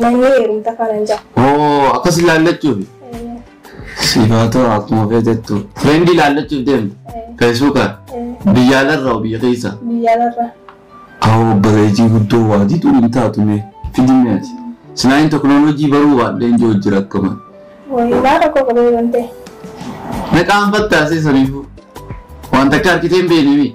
Manni heerumta kanan ja'a. Oo akkas ilaallachuufi. Sifaatoo akkuma feetettu. Fireendi ilaallachuuf deemte. Feesbuuka. Biyya alarraa biyya keessa. Biyya alarraa. Awoo bareejii guddoo waa diduu hin taatu mee fidimee ati. Sinaayin teknooloojii baruu baadheen jiru jira akkuma. Wayii maa rakkoo qabee bantee. Meqaan fattaasee saniifuu. Waan takka harkiteen beeknimi.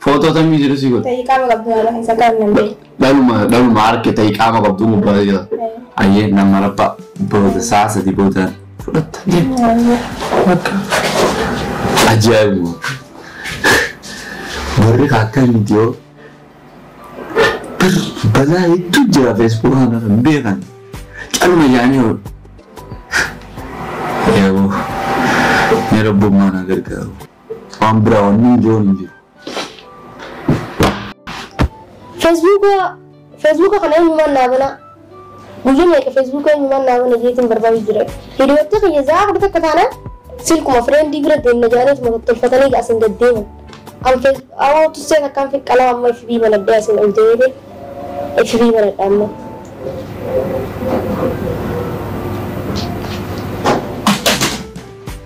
Footoo tamii jiru si godhe. Ta'ii qaama qabdu haala keessa kaa'an nan beeku. Dhaluma dhaluma harke ta'ii qaama qabdu nu bara jira. Ayyee nama rabba booda sa'a sadii booda fudhatta jee. Bakka. Ajaa'ibu. Warri akka miti yoo balaa hedduu jira feesbuuka kana kan beekan. Calma yaanii yoo. Eeboo. Ni rabbummaa na gargaaru. Waan biraa wannin je'uun hin jiru. Feesbuuka Feesbuuka kana eenyumaan naa bana guyya meeqa Feesbuuka eenyumaan naa bana jeetiin barbaadu jira. Hiriyoottii kiyya zaa afur takka taana silkuma fireendii bira deemna jaaniituma tottolfatanii asin gad deeman. An fees awoo tussee takkaan fi qalama amma FB banadhee asin ol deebiin FB banadha amma.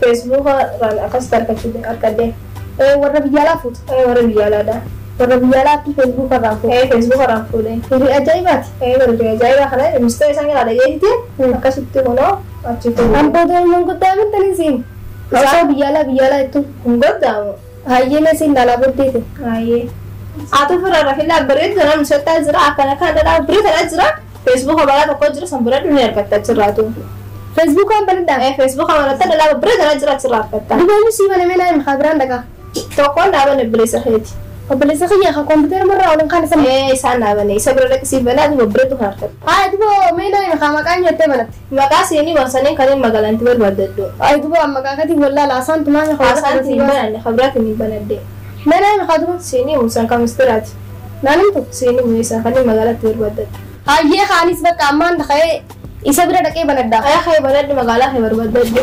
Feesbuuka irraan akkasitti argachuu argadhe. Ee warra biyya alaa fuuta. Ee warra biyya alaa da. Warra biyya alaa attii feesbuuka irraan fuute. Ee feesbuuka irraan fuudhe. Firii ajaa'ibaati. Ee bari firii ajaa'ibaa kana mistira isaan irraa dhaga'ee dide akkasitti kunoo achi fuudhe. An booda hin goddaamin tani siin. Osoo biyya alaa biyya alaa jettu. Hin goddaamu. Hayyee mee siin laalaa boddee tee. Hayyee. Atu fira rafila bari tana musata zira akana kan da bari tana zira Facebook baraa tokko jiru san banadhu ni argatta achirraatu. Facebook an banadha? Ee Facebook banatta dhalaa babbira garaa jira achirraa argatta. Duba enyu sii bane mee naa himi kaa biraan dhaqaa. Tokkoon naa bane obboleessa keeti. Obboleessa kiyya ka computer marraa olin kaane san. Ee isaan naa bane isa bira dhaqi siif banaa duba babbiratu kan argatta. Haaya duba mee naa himi kaa maqaa enyu jettee banatte. Maqaa siinii wan saneen kaneen magalanti barbadaddo. Ayi duba an maqaa katin wallala asan tun anya khabira Asan khabatii hin basa. bananne khabira tun hin banadde. Me nami kha duba siinii umu san kha mistirati namin tokko siinii umu isan kanin magalatti barbadaddo. Hayyee kha anis bakka ammaan dhaqee isa bira dhaqee banadha. Aya khayi banadhu magala khe barbadaddo.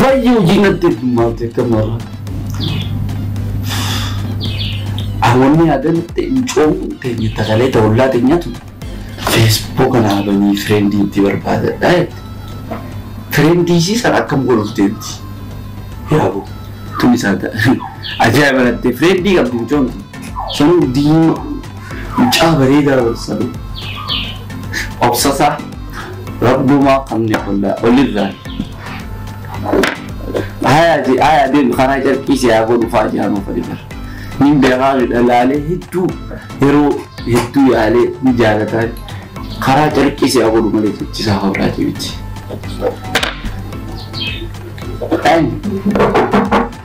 Baay'ee hojii natti heddummaatu akka marra. Awwanni yaadan ta'in coomuun teenya takalee ta'ullaa teenyatu feesbuuk kana abanii fireendii itti barbaadadha jette. Fireendii isii sana akkam godhuuf deemti? Yaabo tun isaa ta'a. Ajaa'iba lattee fireendii qabdi mucoon tun. Sanu diima mucaa bareedaa bar sanu obsasaa rabbumaa qabne hollaa olirraa haya je haya deemi karaa carqii si haa godhu faa jaanuu fadhibar nin beekaa midha laalee hedduu yeroo hedduu yaalee ni jaalataan karaa carqii si haa godhu malee jechisaa hodhaa jebichi. Ani.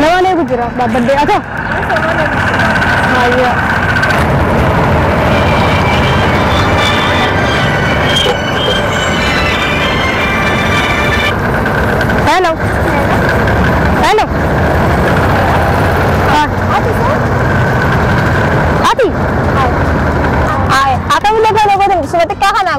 Namaan eegu jira dhaabbadde aka. Haayyaa. Hello. Hello. Ah. Ati? Ay, akkamillee kan ogoodin suma xiqqaa kanaa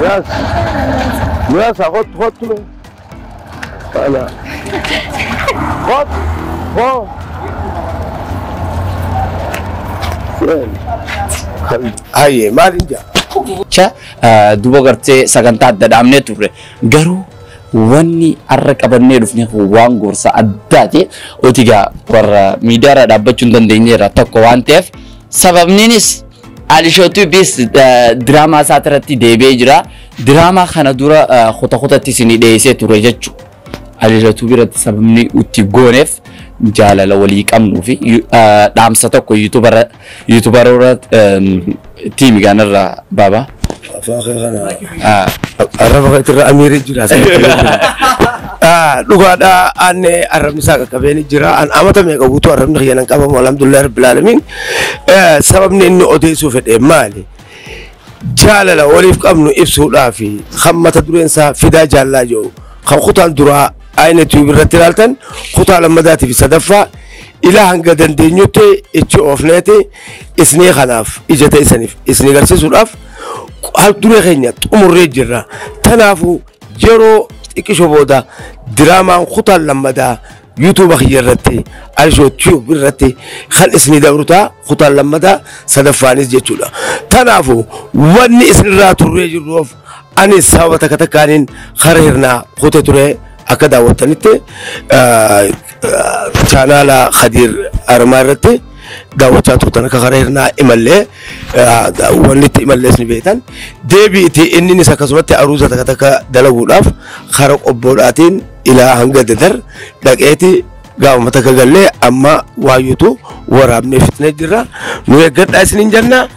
Biraz. Biraz ha hot hot lo. Hala. Hot. Ho. Hayye maal hin jaa? Jecha eh, duba gartee sagantaa adda dhaabnee turre garuu wanni har'a qabannee dhufne kun waan gorsa addaati. Otigaa warra miidiyaarra dhaabbachuu hin dandeenyeerra tokko waan ta'eef sababniinis Alisho Tubis diraamaa isaa irratti deebi'ee jira. Diraamaa kana dura kuta kutatti isin dhiyeessee ture jechuudha. Alisho Tubi irratti sababni itti gooneef jaalala walii qabnuu fi dhaamsa tokko yuutubaroota tiimi gaanarraa baaba. Afaan kee kana. Arraba keetti irra amiirri jira. Dhugaadhaa aanne arrabni isaa qaqqabeen jira. An amata meeqa guutuu arrabni kiyya nan qabamu alhamdulillah rabbil alamin. Sababni inni odeessuu fedhe maali? Jaalala waliif qabnu ibsuudhaafi kan mata dureen isaa fidaa jaallaa jedhu kan kutaan duraa Ayina Tube irratti ilaaltan kutaa lammadaatii fi sadaffaa ila hanga dandeenyutti ichi oofneeti isnii kanaaf ija ta'isaniif isnii garsiisuudhaaf haal duree keenya xumurree jirra. Kanaafuu yeroo xiqqisho booda diraamaan kutaa lammadaa yuutuuba kiyya irratti Ayishoo Tube irratti kan isnii dabru ta'a kutaa lammadaa sadaffaanis jechuudha. Kanaafuu wanni isinirraa turree jirruuf Ani sababa takka takkaaniin hara hirnaa kute ture akka daawwattanitti chaanaala Khadiir Armaa irratti daawwachaa turtan akka hara hirnaa imallee wanni itti imallees ni beektan. Deebi'iti inninis akkasumatti aruuza takka takka dalaguudhaaf hara qobboodhaatiin ilaa hanga dadar dhaqeeti gaafuma takka gallee amma waayyutu waraabnee fixnee jirra. Nu eeggadhaa isiniin jenna.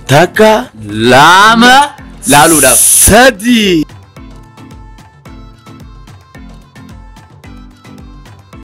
Takka lama laaluudhaaf. sadii.